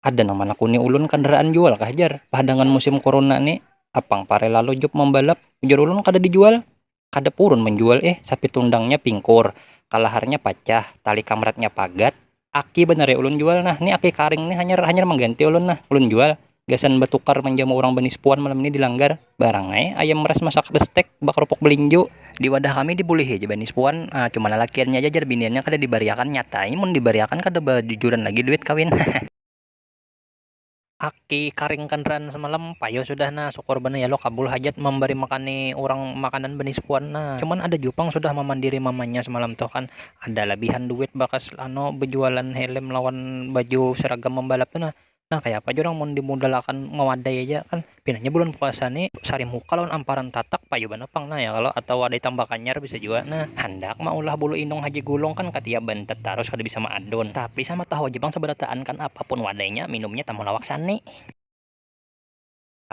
Ada nang manakuni ulun kandaraan jual kah jar, pahadangan musim korona ni, apang pare lalu job mambalap, ujar ulun kada dijual, kada purun manjual ih, sapit tundangnya pingkur, kalaharnya pacah, tali kamratnya pagat, aki banar ya ulun jual nah, ni aki karing ni hanyar hanyar mangganti ulun nah ulun jual. gasan batukar manjamu urang banispuan malam ni di langgar barang ai ayam ras masak bestek bakarupuk balinjo. Di wadah kami dibulihi aja banispuan, cuma lalakiannya aja jar biniannya kada dibariakan, nyata ai mun dibariakan kada bajujuran lagi duit kawin hehe. Aki karing kandaraan samalam, payo sudah nah, sukur banar ya lo kabul hajat mambari makani urang makanan banispuan nah, cuman ada jua pang sudah mamandiri mamanya samalam tuh kan, ada labihan duit bakas anu bajualan helm lawan baju seragam mambalap tu nah. Nah, kaya apa jua orang mun dimudalakan ngawadai aja kan pinanya bulan puasa ni sari muka lawan amparan tatak payu banar pang nah ya kalau atau wadai tambah kanyar bisa jua nah handak maulah bulu inung haji gulung kan katiya bantet tarus kada bisa maadun tapi sama tahu aja pang sabarataan kan apapun wadainya minumnya tamulawak sani.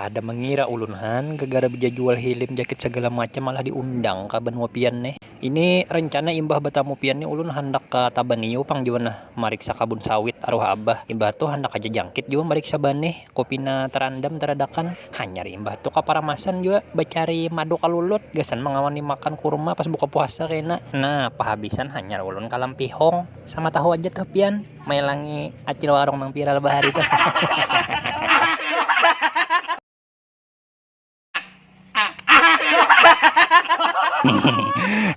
Kada mengira ulun han, gegara bejajual hilim jakit segala macam malah diundang ka banua pian nih. Ini rencana imbah betamu pian nih ulun handak ka Tabanio pang jua nah mariksa kabun sawit aruh abah. Imbah tu handak haja jangkit jua mariksa banih ko pina terandam teradakan. Hanyar imbah tu ka Paramasan jua becari madu kalulut gasan mengawani makan kurma pas buka puasa kena. Nah pahabisan hanyar ulun ka Lampihong. Sama tahu aja tuh pian. Mailangi acil warung nang viral bahari tu.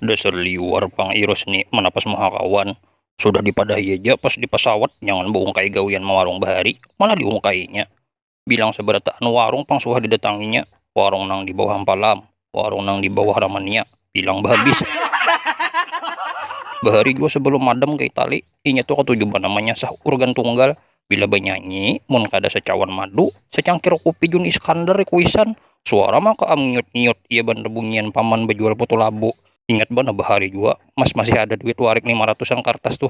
Dasar liwar pang Iros ni manapas muha kawan. Sudah dipadahi aja pas di pasawat jangan baungkai gawian mawarung bahari, malah diungkainya. Bilang sabarataan warung pang suah didatanginya. Warung nang di bawah Ampalam, warung nang di bawah Ramania, bilang bahabis. Bahari jua sebelum madam ka Itali, inya tu katuju banar manyasah urgan tunggal. Bila banyanyi, mun kada sacawan madu, sacangkir kupi Jun Iskandar di kuisan, suara maka am ngiut-ngiut iya banar bunyian paman bajual putu labu. Ingat banar bahari jua, Mas masih ada duit warik lima ratusan kartas tuh.